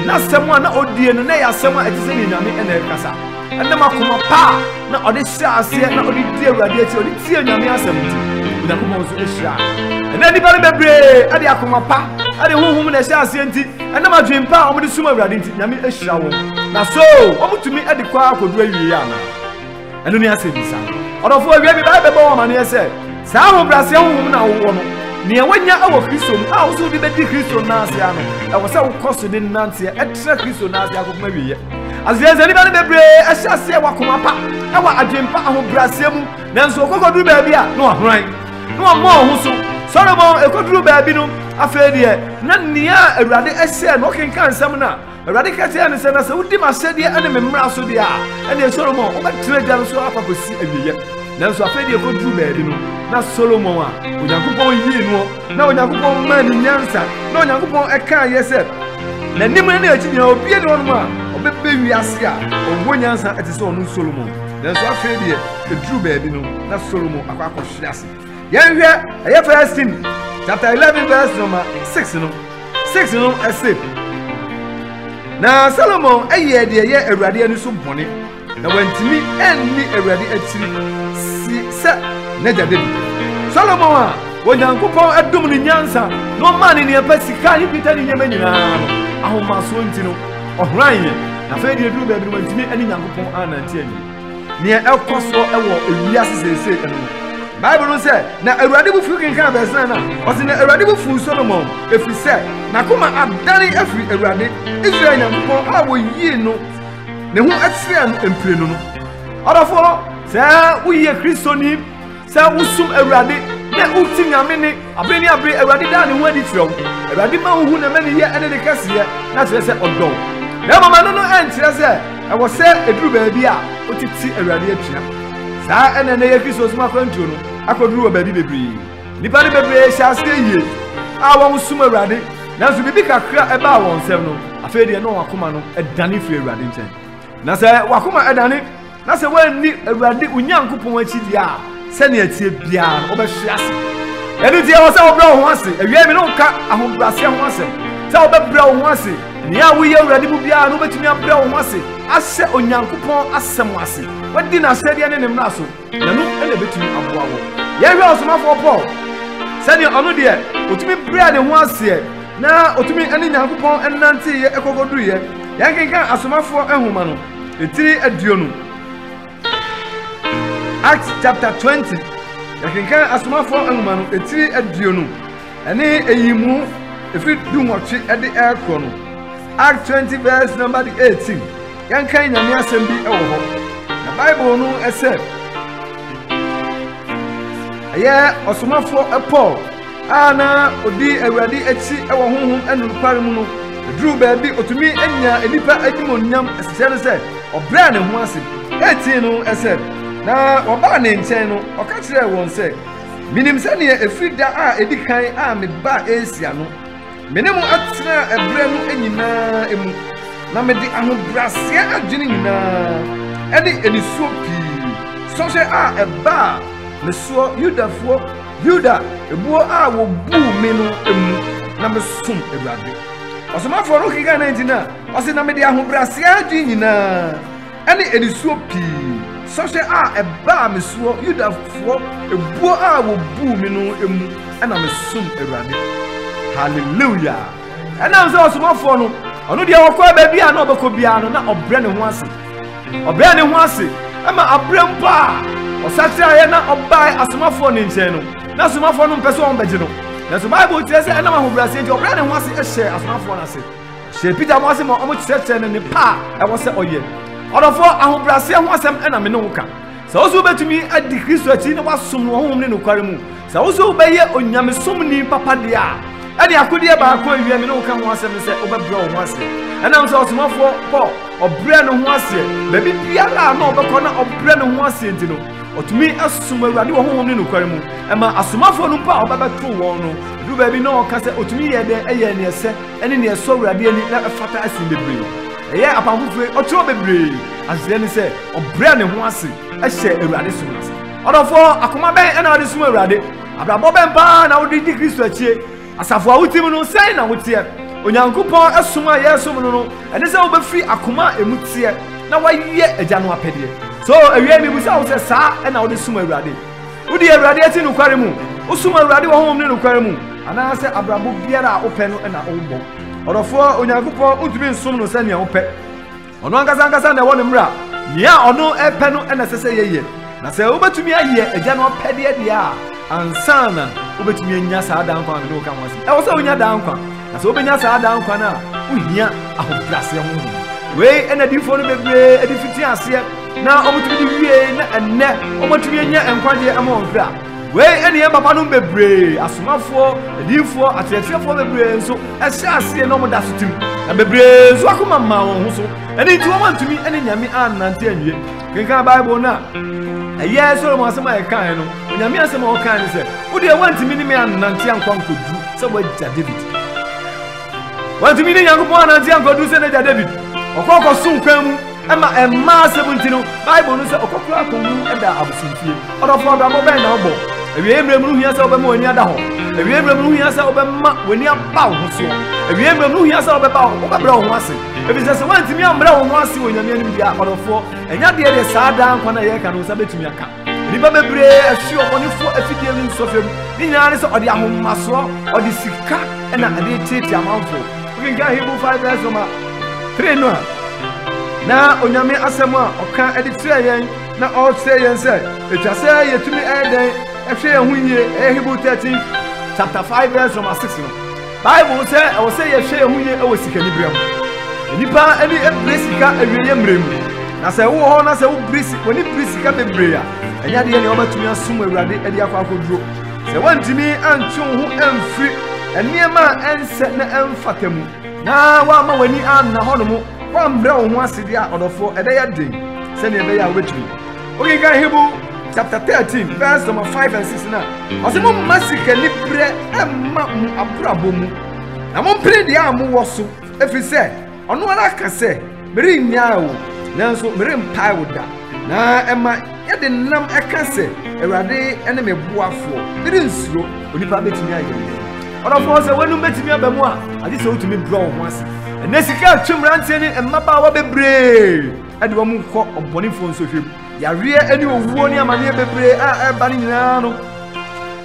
N'asɛm a na odie no, na ɛyɛ asɛm a ɛte sɛ nea Nyame na ɛrekasa. Ɛnam akoma pa a na ɔde hyɛɛ aseɛ na ɔde di Awurade akyi, ɔde tie Nyame asɛm nti, Onyankopɔn nso hyiraa. Ɛnɛ nnipa no bebree de akoma pa de honhom na ɛhyɛ aseɛ nti, ɛnam adwene pa a wɔde som Awurade nti, Nyame hyira wɔn. Na so wɔtumi de kɔ akɔdu awieeɛ anaa? Ɛno ne asɛmmisa no. Ɔdɔfoɔ, awiei mebɛbɔ wo amanneɛ sɛ, Saa ahobrɛaseɛ honhom no a wowɔ no, nea woanya wɔ Kristo mu a wosɛ wode bɛdi Kristo nna ase ara no, ɛwɔ sɛ wokɔ so de nanteɛ tra Kristo nna ase akɔpem awieeɛ. Aseɛsɛ nnipa no bebree hyɛ aseɛ wɔ akoma pa, wɔ adwene pa, ahobrɛaseɛ mu, nanso wɔkɔkɔduru baabi a, na wɔahoran, na wɔmmɔ wɔn ho so. Solomon kɔduruu baabi no, afei deɛ, na nea Awurade hyɛɛ no, ɔkenkan nsɛm no a, Awurade ka kyerɛɛ no sɛ, Na sɛ wodi m'ahyɛdeɛ ne me mmara so deɛ a, ɛnneɛ Solomon, wobɛtena adwa no so ara kɔsi awieeɛ. Nanso afei deɛ ɛkɔduru baabi no, na Solomon a Onyankopɔn yii noɔ, na Onyankopɔn maa ne nyansa, na Onyankopɔn ɛkaa yɛ sɛ, N'anim ne n'akyi nyinaa obie ne hɔnom a ɔbɛbɛ wiase a ɔwɔ nyansa ɛte sɛ ɔno Solomon. Nanso afei deɛ ɛduru baabi no, na Solomon akɔ akɔhwe ase. yɛnhwɛ ɛyɛ first tim chapter eleven verse number six no six no ɛsɛ na solomon ɛyɛ deɛ ɛyɛ awurade ani so bɔne na wantumi anni awurade akyiri si sɛ n'agya david solomon a onyankopɔn adom ne nyansa na ɔmaa ne nea pɛ sika ne dwetɛ ne nneɛma nyinaa no ahomasoɔ nti no ɔhoran yɛ na afei deɛ duru baabi no wantumi ne nyankopɔn anante awie Nea ɛkɔ so wɔ wiase seesei no, Bible no sɛ, na Awurade bo fuw kenkan bɛsena no a, ɔse na Awurade bo fuw Solomon, ɛfiri sɛ n'akoma adane afiri Awurade, Israel Nyankopɔn a wɔyii no ne ho akyerɛɛ no mprenu no. Ɔdɔfoɔ, sɛ woyɛ Kristoni Sɛ wosom Awurade na woti Nyame ne abere ne abere Awurade daa ne ho adi kyerɛ wo. Awurade ma wohu ne mɛneyɛ ne ne kɛseyɛ na kyerɛ sɛ ɔdɔ wo. Na mmom ɛno no ɛnkyerɛ sɛ ɛwɔ sɛ ɛduru baabi a wotete Awurade atua. Saa ɛna ɛnɛ yɛ Kristosom akwantuo no akɔduru wɔ baabi bebree. Nnipa no bebree hyɛ aseɛ yie a wɔsom Awurade nanso biribi kakra ɛbaa wɔn nsɛm no afei deɛ na wɔn akoma no ɛdane firi Awurade nkyɛn. Na sɛ wakoma ɛdane Na sɛ woanni Awurade wo Nyankopɔn akyi deɛ a, sɛnea ɛteɛ biara no, wobɛhwe ase. Ɛno nti, ɛwɔ sɛ wobrɛ wo ho ase. Awiei me ne wo ka ahobrɛaseɛ ho asɛm, sɛ wobɛbrɛ wo ho ase. Nea a woyɛ Awurade mu biara no, wobɛtumi abrɛ wo ho ase ahyɛ Onyankopɔn asɛm ase, woadi n'ahyɛdeɛ ne ne mmara so, na ɛno na ɛbɛtumi aboa wo. Yɛnhwɛ ɔsomafoɔ Paul, sɛdeɛ ɔno deɛ, ɔtumi brɛɛ ne ho aseɛ, na ɔtumi ne Nyankopɔn nanteeɛ kɔkɔduruiɛ. Yɛnkenkan Asomafoɔ nwoma no. Etiri aduonu. Acts chapter twenty. Yɛkenkan asomafoɔ nwoma no etiri aduonu ɛne eyi mu efiri du nwɔtwe ɛde ɛrekɔ no. Act twenty verse number eighteen. Yɛnkan nyame asɛm bi ɛwɔ hɔ. Na Bible no ɛsɛ ɛyɛ ɔsomafoɔ Paul. a na odi Awurade akyi wɔ honhom ne nokware mu no, eduruu baabi otumi nyaa nnipa animuonyam. Ɛsekyerɛ ne sɛ ɔbrɛɛ ne ho ase. Etii no ɛsɛ na wɔbaa ne nkyɛn no, ɔka kyerɛɛ wɔn sɛ, Minim sɛnea efiri da a edi kan a mebaa Asia no, me ne mo atena ɛbrɛ no nyinaa mu, na mede ahobrɛaseɛ adwene nyinaa ne anisuo pii sɔhwɛ a ɛbaa me soɔ Yudafoɔ Yuda ebuo a wɔbuu me no mu na mesom Awurade. Ɔsomafoɔ no kekaa na nti no a, ɔse na mede ahobrɛaseɛ adwene nyinaa ɛne anisuo pii sɔhwɛ a ɛbaa me soɔ Yudafoɔ ebuo a wɔbuu me no mu na mesom Awurade. Hallelujah! Ɛnam sɛ ɔsomafoɔ no, ɔno deɛ ɔkɔɔ baabi a na ɔbɛkɔ biara no na ɔbrɛ ne ho ase Ɔbrɛ ne ho ase ma aberɛ mpo a ɔsakyeraeɛ na ɔbae asomafoɔ ne nkyɛn no, na asomafoɔ no mpɛ sɛ wɔbɛgye no. Nanso Bible kyerɛ sɛ ɛnam ahobrɛaseɛ nti ɔbrɛ ne ho ase hyɛɛ asomafoɔ no ase. Ɔhyɛɛ Peter mo ase ma wɔkyerɛkyerɛɛ no nnepa a ɛwɔ sɛ ɔyɛ. Ɔdɔfoɔ, ahobrɛaseɛ ho asɛm na me ne wo ka. Sɛ wo nso wobɛtumi adi Kristo akyi na woasom no wɔ honhom ne nokware mu Sɛ wo nso wobɛyɛ onyamesomni papa deɛ a, ɛnneɛ akodeɛ baako a ɛwia me ne wo ka ho asɛm ne sɛ wobɛbrɛ wo ho ase. Ɛnam sɛ ɔsomafoɔ Paul, ɔbrɛɛ ne ho aseɛ baabi biara a na ɔbɛkɔ na ɔbrɛ ne ho aseɛ nti no, ɔtumi som Awurade wɔ honhom ne nokware mu. Ɛmaa asomafoɔ no mpo a ɔbɛbɛto wɔn no, ɛduru baabi na ɔka sɛ ɔtumi yɛɛ dɛn? Ɛyɛɛ nea ɛsɛ ne nea ɛsɔ Awurade ani na ɛfata sen bebree. Ɛyɛɛ apam foforɔ yi, ɔkyerɛw bebree. Aseɛ ne sɛ, ɔbrɛɛ ne ho ase hyɛɛ Awurade som no ase. Ɔdɔfoɔ, akoma bɛn na wode som Awurade? Abrabɔ bɛn paa na wode di Kristo akyie? Asafo a wotim no, sɛn na woteɛ? Onyankopɔn som a yɛresom no no, ɛne sɛ wobɛfiri akoma a ɛmu teɛ na woayɛ Agya no apɛdeɛ. So awiei mebisa wo sɛ saa na wode som Awurade? Wodi Awurade akyi nokware mu? Wosom Awurade wɔ honhom ne nokware mu? Anaasɛ abrabɔ biara a wopɛ no na wobɔ? Ɔdɔfoɔ, Onyankopɔn wontumi nsom no sɛnea wopɛ. Ɔno ankasa ankasa na ɛwɔ ne mmara. Nea ɔno pɛ no na ɛsɛ sɛ yɛyɛ. Na sɛ wobɛtumi ayɛ Agya no apɛdeɛ deɛ a, ansa na wobɛtumi anya saa daa nkwa a me ne wo ka ho asɛm. Ɛwɔ sɛ wonya daa nkwa. Na sɛ wobɛnya saa daa nkwa no a, wohia ahobrɛaseɛ honhom. Wei na adiyifoɔ no bebree de fiti aseɛ na wɔtumi de wiei, na ɛnnɛ wɔatumi anya nkwagyeɛ ama wɔn kra. Wei ne yɛn papanom bebree, asomafoɔ, adiyifoɔ, akyerɛkyerɛfoɔ bebree nso ɛhyɛ aseɛ na wɔda so tim, na bebree nso akoma mmaa wɔn ho so, ɛno nti wɔantumi ne Nyame annante anwie. Kenkan Bible no a, ɛyɛ Solomon asɛm a yɛkaeɛ no, Onyame asɛm a ɔkae ne sɛ, Wo deɛ woantumi ne me annante ankɔ ankɔduru sɛ w'agya David. Wantumi ne Nyankopɔn annante ankɔduru sɛ n'agya David. Ɔkɔɔ kɔsom kwan mu. Ɛma mmaa asɛm nti no, Bible no sɛ ɔkɔkora akowu da abosomfie. Ɔdɔfo abrabɔ bɛn na wobɔ? Awiei mmerɛ mu no hia sɛ wobɛma w'ani ada hɔ. Awiei mmerɛ mu no hia sɛ wobɛma w'ani aba wo ho soɔ. Awiei mmerɛ mu no hia sɛ wobɛba wobɛbrɛ wo ho ase. Ɛfiri sɛ sɛ woantumi ambrɛ wo ho ase wɔ Nyame anim deɛ a, ɔdɔfoɔ, ɛnyɛ adeɛ deɛ saa daa nkwa no a yɛreka no wo nsa bɛtumi aka. Nnipa bebree afi ɔbɔnefo afidie no nsɔhwɛ mu. Ne nyinaa ne sɛ ɔde ahomasoɔ, ɔde sika na ɛde reteetee amanfo. Wokenkan Hebrew 5 verse number 3 no a, na Onyame asɛm a ɔka de kyerɛ yɛn na ɔrekyerɛ yɛn sɛ ɛtwa sɛ yɛtumi ɛyɛ dɛn ɛhwɛ yɛn ho yie ɛyɛ Hebrew 13 chapter 5 verse number 6 no. Bible sɛ ɛwɔ sɛ yɛhwɛ yɛn ho yie wɔ sikaniberɛ ho. Nnipa ani bere sika awieeɛ mmerɛ mu, na sɛ wowɔ hɔ na sɛ w'ani bere sika bebree a, ɛnyɛ adeɛ nea wobɛtumi asom Awurade de akɔ akɔduro. Sɛ woantumi antwe wo ho amfiri nneɛma a ɛnsɛ na ɛmfata mu, na woamma w'ani anna hɔnom, woammrɛ wo ho ase deɛ a, ɔdɔfoɔ, ɛbɛyɛ den sɛdeɛ ɛbɛyɛ a wobɛtumi. Wokenkan Hebrew chapter thirteen verse number five and six na ɔsɛ mo mma sikani brɛ ɛmma mo abrabɔ mu na mo mpere deɛ a mowɔ so ɛfiri sɛ ɔno ara ka sɛ merennyaa wo nanso merempae wo da na ɛma yɛde nam ɛka sɛ awurade ne me boafoɔ merensuro onipa bɛtumi ayɛ me ɔdɔfoɔ sɛ w'anom bɛtumi aba mu a agye sɛ wotumi brɛ wo ho ase ɛnɛ sika atwe mmeranteɛ ne mmabaawa bebree de wɔn rekɔ ɔbɔnefoɔ nsɔhwɛ mu. Yareɛ ne owuo ne amaneɛ bebree a ɛreba no nyinaa no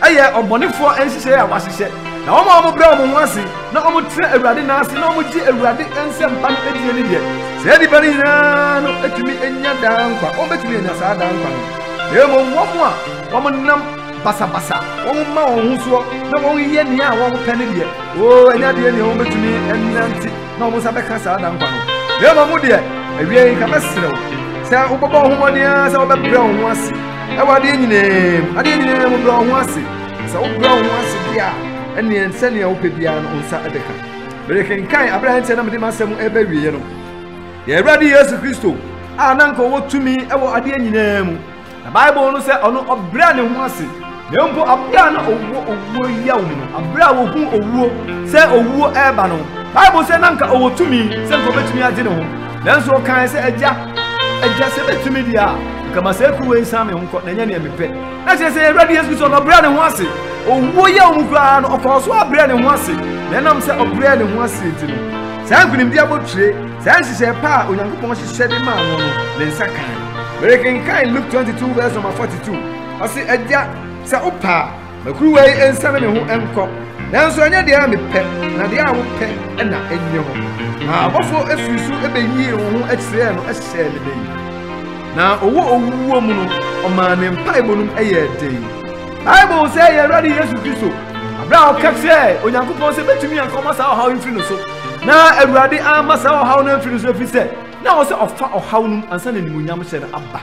ɛyɛ ɔbɔnefoɔ nhyehyɛeɛ a wɔahyehyɛ. Na wɔn a wɔbrɛ wɔn ho ase na wɔtena Awurade nan ase na wɔgye Awurade nsɛmpa no adie no deɛ, saa nnipa no nyinaa no atumi anya daa nkwa. Wɔbɛtumi anya saa daa nkwa no. Na mmom wɔn a wɔnam basabasa, wɔma wɔn ho soɔ na wɔyɛ nea a wɔpɛ no deɛ, oo, ɛnyɛ adeɛ nea wɔbɛtumi nnante. na wɔn nsa bɛka saa da nkwa no na mmom mo deɛ awie yi nka mɛsrɛ wo sɛ wobɛbɔ wo ho mmɔden ara sɛ wobɛbrɛ wo ho ase ɛwɔ adeɛ nyinaa mu adeɛ nyinaa mu brɛ wo ho ase sɛ wobrɛ wo ho ase bi a ɛneɛ sɛnea wopɛ biara no wo nsa ɛbɛka merekenkan aberɛ a ɛnkyɛ na mede m'asɛm ɛbɛwieɛ no yɛ awurade yesu kristo a na nka ɔwɔ tumi ɛwɔ adeɛ nyinaa mu Na Bible no sɛ ɔno ɔbrɛ ne ho ase. Na mpo abere a na ɔwɔ owuo yaw mu no, abere a wɔhuu owuo sɛ owuo ɛreba no, Bible sɛ na nka ɔwɔ tumi sɛ nka ɔbɛtumi agye ne ho. Nanso ɔkae sɛ, Agya, agya sɛ bɛtumi deɛ a, nka ma saa kuruwa yi san me ho nkɔ, na ɛnyɛ deɛ mepɛ. Na kyerɛ sɛ Awurade Yesu Kristo na ɔbrɛ ne ho ase. Owuo yaw mu koraa no, ɔkɔɔ so abrɛ ne ho ase. Na ɛnam sɛ ɔbrɛ ne ho ase nti no, saa nkonimdi abotire Saa nhyehyɛe pa a Onyankopɔn hyehyɛ de maa no no, ne nsa kae. Merekenkan Luke 22 verse number 42. Ɔse, Agya, sɛ wopɛ a, ma kuruwa yi nsiane me ho nkɔ. Nanso ɛnyɛ deɛ a mepɛ, na deɛ a wopɛ na ɛnyɛ hɔ. Na abɔfoɔ firi so bɛyii wo ho kyerɛɛ no hyɛɛ no den. Na ɔwɔ owuwuo mu no, ɔmaa ne mpaebɔ nom yɛɛ den. Bible sɛ ɛyɛ Awurade Yesu Kristo, berɛ a ɔka kyerɛɛ Onyankopɔn sɛ bɛtumi anka ɔma saa ɔhaw yi mfiri no so. Na Awurade amma saa ɔhaw no amfi no so efisɛ na ɛwɔ sɛ ɔfa ɔhaw no mu ansa na animuonyamhyɛ no aba.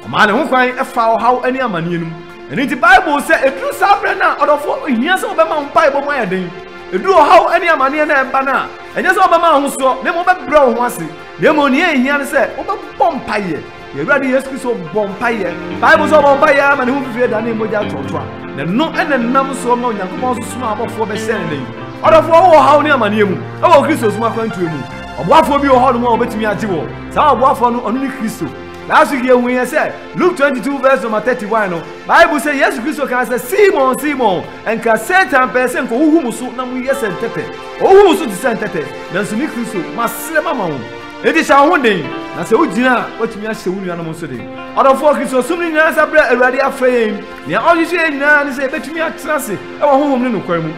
Ɔmaa ne ho kwan faa ɔhaw ne amanneɛ no mu. Ɛno nti Bible sɛ eduru saa berɛ no a ɔdɔfo hia sɛ wobɛma wo mpaebɔ mu ayɛ den. Eduru ɔhaw ne amanneɛ no a ɛba no a, ɛnyɛ sɛ wobɛma ahosoɔ na mmom wobɛbrɛ wo ho ase. Na mmom nea ɛhia ne sɛ wobɛbɔ mpaeɛ. Yɛn Awurade Yesu Kristo bɔ mpaeɛ. Bible sɛ ɔbɔ mpaeɛ ara ma ne ho fifire da ne mogya toɔtoa. Na ɛno na nam soɔ ma Onyankopɔn sosom abɔfoɔ bɛhyɛ ne nan. Ɔdɔfoɔ wɔ haw ne amanneɛ mu wɔ Kristo som akwantuo mu. Ɔboafoɔ bi wɔ hɔnom a wɔbɛtumi agye wɔ. Saa ɔboafoɔ no, ɔno ne Kristo. Last week yɛhu yɛ sɛ Luke 22 verse number 31 no, Bible sɛ Yesu Kristo kaa sɛ, Simon, Simon, nka Satan pɛɛ sɛ nka ɔhuhu mo so na moyɛ sɛ ntɛtɛ. Ɔhuhu mo so te sɛ ntɛtɛ, nanso me Kristo, masrɛ mama wo. Enti hyɛ wo ho den, na sɛ wugyina a, woatumi ahyɛ wo nuanom nso den. Ɔdɔfoɔ, Kristosom no nyinaa nsa berɛ a Awurade afrɛ yɛn. Nea ɔhwehwɛ yɛn nyinaa ne sɛ yɛbɛtumi atena ase wɔ honhom ne nokorɛ mu.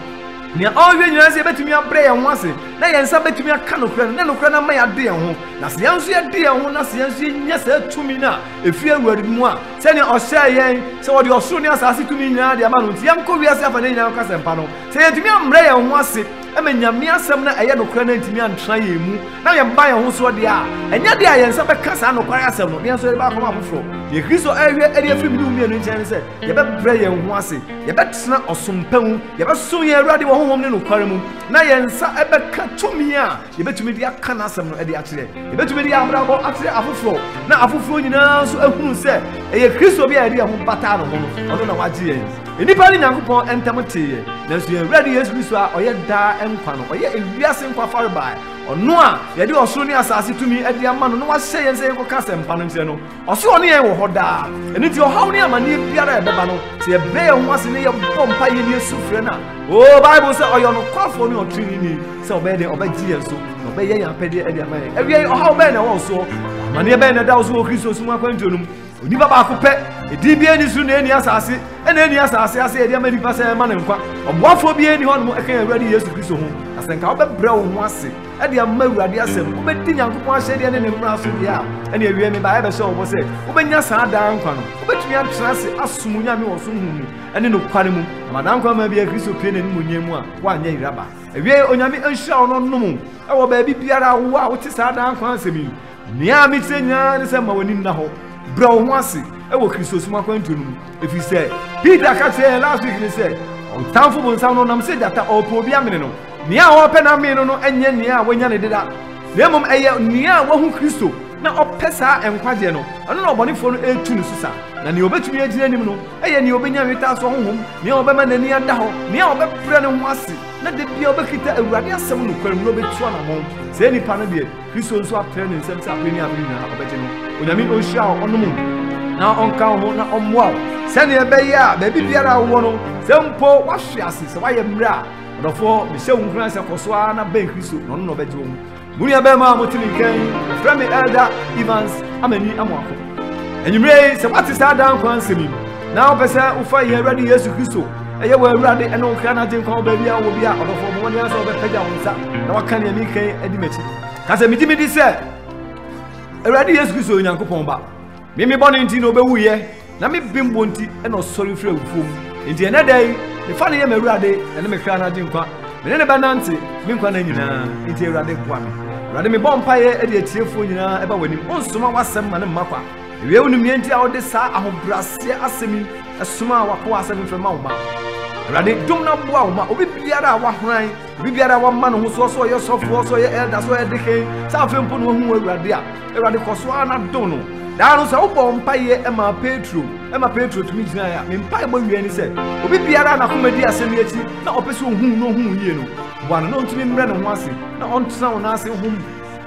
Nea ɔhwehwɛ nyinaa ne sɛ yɛbɛtumi abrɛ yɛn ho ase na yɛn nsa bɛtumi aka nokorɛ no, na nokorɛ no ama yɛade yɛn ho. Na sɛ yɛn nso yɛde yɛn ho na sɛ yɛn nso yɛnya saa tumi no a ɛfiri Awurade no mu a, sɛdeɛ ɔhyɛɛ yɛn sɛ wɔde ɔsoro ne asaase tumi nyinaa de ama no nti, yɛnkɔ wiase afanan nyinaa nkɔka asɛmpa no. Sɛ yɛantumi ammrɛ yɛn ho ase, na Nyame asɛm no a ɛyɛ nokorɛ no antumi antra yɛn mu, na yɛn mma yɛn ho soɔ deɛ a, ɛnyɛ deɛ a yɛn nsa bɛka saa nokware asɛm no, na yɛn nso yɛde bɛakɔma afoforɔ. Deɛ Kristo rehwɛ de afiri me ne wo mmienu nkyɛn ne sɛ, yɛbɛbrɛ yɛn ho ase, yɛbɛtena ɔsom pa mu, yɛbɛsom yɛn Awurade wɔ honhom ne nokware mu, na yɛn nsa bɛka tumi a yɛbɛtumi de aka n'asɛm no de akyerɛ. Yɛbɛtumi de yɛn abrabɔ akyerɛ afoforɔ, na afoforɔ nyinaa nso ahunu sɛ ɛyɛ Kristo bi a yɛde yɛn ho bataa ne ho no, ɔno na wagye yɛn. Nnipa ne Nyankopɔn ntam teeɛ, nanso yɛn Awurade Yesu Kristo a ɔyɛ daa nkwa no, ɔyɛ ewiase nkwa farebae, ɔno a yɛde ɔsoro ne asase tumi de ama no na wahyɛ yɛn sɛ yɛnkɔka asɛmpa no nkyerɛ no. Ɔse ɔne yɛn wɔ hɔ daa. Ɛno nti ɔhaw ne amanneɛ biara a ɛbɛba no, sɛ yɛbrɛ yɛn ho ase na yɛbɔ mpaeɛ ne yɛsu frɛ no a, o Bible sɛ ɔyɛ ɔnokwafoɔ ne ɔtreneeni sɛ ɔbɛyɛ dɛn ɔbɛgye yɛn so na ɔbɛyɛ yɛn apɛdeɛ de ama yɛn. Awiei ɔhaw bɛn na ɛwɔ wo soɔ? Amanneɛ bɛn na ɛda wo so wɔ Kristo som akwantuo no mu? Onipa baako pɛ, edin biara nni soro na enni asase, ɛna enni asase ase a yɛde ama nipa sɛ ɛmma no nkwa. Ɔboafoɔ biara nni hɔnom ɛka yɛn Awurade Yesu Kristo ho. Na sɛ nka wobɛbrɛ wo ho ase de ama Awurade asɛm, wobɛdi Nyankopɔn ahyɛdeɛ ne ne mmara so deɛ a, ɛne awiɛ me baeɛ bɛhyɛ wo bɔ sɛ wobɛnya saa daa nkwa no. Wobɛtumi atena ase asom Onyame wɔ som honhom mu ne nokware mu. Na ma daa nkwa ma bia Kristo pue n'animuonyam mu a woanyɛ yera ba. Awiei, Onyame nhyira wo na ɔnnom wo wɔ baabi biara a wowɔ a wote saa daa nkwa asɛm yi. Nea mitiɛ nyinaa ne sɛ ma w'ani nna hɔ, brɛ wo ho ase wɔ Kristosom akwantuo no mu, ɛfiri sɛ Peter ka kyerɛɛ yɛn last week no sɛ ɔtamfo bonsam no nam sɛ gyata ɔɔpɛ obi amene no, nea ɔɔpɛ no amene no no ɛnyɛ nea wanya no deda, na mmom ɛyɛ nea wahu Kristo na ɔpɛ saa nkwagyeɛ no, ɛno na ɔbɔnefoɔ no ɛretu ne so sa, na nea ɔbɛtumi agyina anim no ɛyɛ nea ɔbɛnya nwetaasoɔ honhom, nea ɔbɛma n'ani ada hɔ, nea ɔbɛbrɛ ne ho ase, na da biara ɔbɛkita Awurade asɛm nokware mu na ɔbɛtu anamɔn, saa nipa no deɛ. Kristo nso atrɛ ne nsam sɛ abere ne abere nyinaa ɔbɛgye no. Onyame onhyira wo, ɔnom wo, na ɔnka wo ho na ɔmmoa wo sɛnea ɛbɛyɛ a baabi biara a wowɔ no, sɛ mpo woahwe ase sɛ woayɛ mmerɛ a, ɔdɔfoɔ, mehyɛ wo nkuran sɛ kɔ so ara na bɛn Kristo na ɔno na ɔbɛgye wo. Mo nuabarima a mote ne nka yi, wɔfrɛ me Elder Evans Amani Amoako. Anwummerɛ yi, sɛ woate saa daa nkwa nsɛm yi na wopɛ sɛ wofa yɛn Awurade Yesu Kristo Ɛyɛ wɔ Awurade ɛne wo kra no agye nkwa wɔ baabi a wɔ bi a ɔdɔfoɔ bɔ mmɔden sɛ wɔbɛpagya wo nsa na waka nea meka yi adi m'akyi. Ka sɛ megye medi sɛ Awurade Yesu Kristo yɛ Onyankopɔn ba. Me me bɔne nti na ɔbɛwuiɛ na me bembɔ nti na ɔsɔre firi awufoɔ mu. Enti ɛnɛ da yi mefa no yɛ m'Awurade ɛne me kra no agye nkwa. Me ne no bɛnante me nkwa na nyinaa. Enti Awurade boa me. Awurade mebɔ mpaeɛ de atiefoɔ nyinaa ɛba w'anim. Onsoma w'asɛm ma no mma kwa. Wiɛ wunim nea enti a wode saa ahobrɛaseɛ asɛm yi somaa w'akoa asɛ memfrɛ ma wo ma Awurade dom na boa wo ma obi biara a wahoran, obi biara a wama ne ho soɔ sɛ ɔyɛ sɔfoɔ, sɛ ɔyɛ elder, sɛ ɔyɛ deken, sɛ afei mpo na wahu Awurade a, Awurade kɔ so ara na dom no. Daa no sɛ wobɔ mpaeɛ ma Petro, ma Petro tumi gyinaeɛ a, me mpaebɔ wie ne sɛ, obi biara a n'akoma di asɛm yi akyi na ɔpɛ sɛ ohuu na ohuu yie no, boa no na ɔntumi mmrɛ ne ho ase na ɔntena wo nan ase hom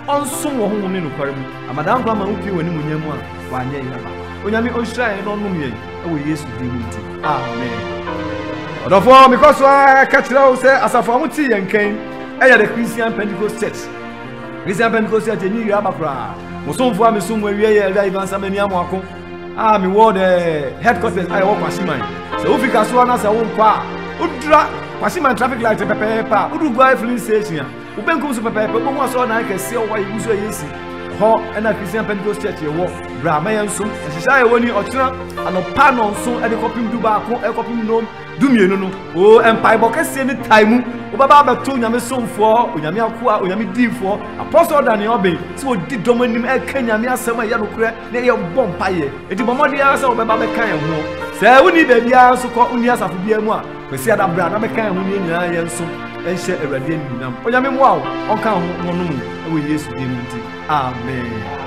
ɔnsom wɔ honhom ne nokware mu, ama daa nkwa ma wopue wɔ n'animuonyam mu a wanyɛ yɛn aba. Onyame onhyira yɛn na ɔnnom yɛn wɔ Yesu din mu nti, amen. Ɔdɔfoɔ, mekɔ so ara ka kyerɛ wo sɛ asafo a wɔte yɛn nka yi yɛ The Christian Pentecost Church. Christian Pentecost Church enyi yiri aba koraa. Mo somfo a mesom mo awie yɛ Elder Ivan Samani Amoako a mewɔ the headquarters a ɛwɔ Kwasiman. Sɛ wofi Kasoa na sɛ worekɔ a, wodura Kwasiman traffic light pɛpɛɛpɛ a, woduru Guare filling station a, Wo benkum so pɛpɛɛpɛ wobɛhu asɔredan kɛseɛ a wɔayɛ gu so a yɛsi hɔ na Christian Pentecost Church yɛwɔ. Bra ma yɛnsom. Nhyehyɛ a yɛwɔ ni, Ɔkyena anɔpa nnɔnson de kɔpem du baako kɔpem nnɔn du mmienu no, o, mpaebɔ kɛseɛ ne tae mu, wobɛba abɛto Onyame somfoɔ, Onyame akoa, Onyame diifoɔ, apɔsɔl Daniel Oben sɛ ɔdi dɔm anim reka Nyame asɛm a ɛyɛ nokorɛ na ɛyɛ bɔ mpaeɛ. Enti bɔ mmɔden ara sɛ wobɛba abɛka yɛn ho. Sɛ wonni baabiara nso kɔ, wonni asafo biara mu a, Kwasiada berɛ a na meka ɛho nie nyinaa yɛ nso nhyɛ Awurade animuonyam. Onyame mmoa wo, ɔnka wo ho ɔnom wo ɛwɔ Yesu din mu nti. Amen.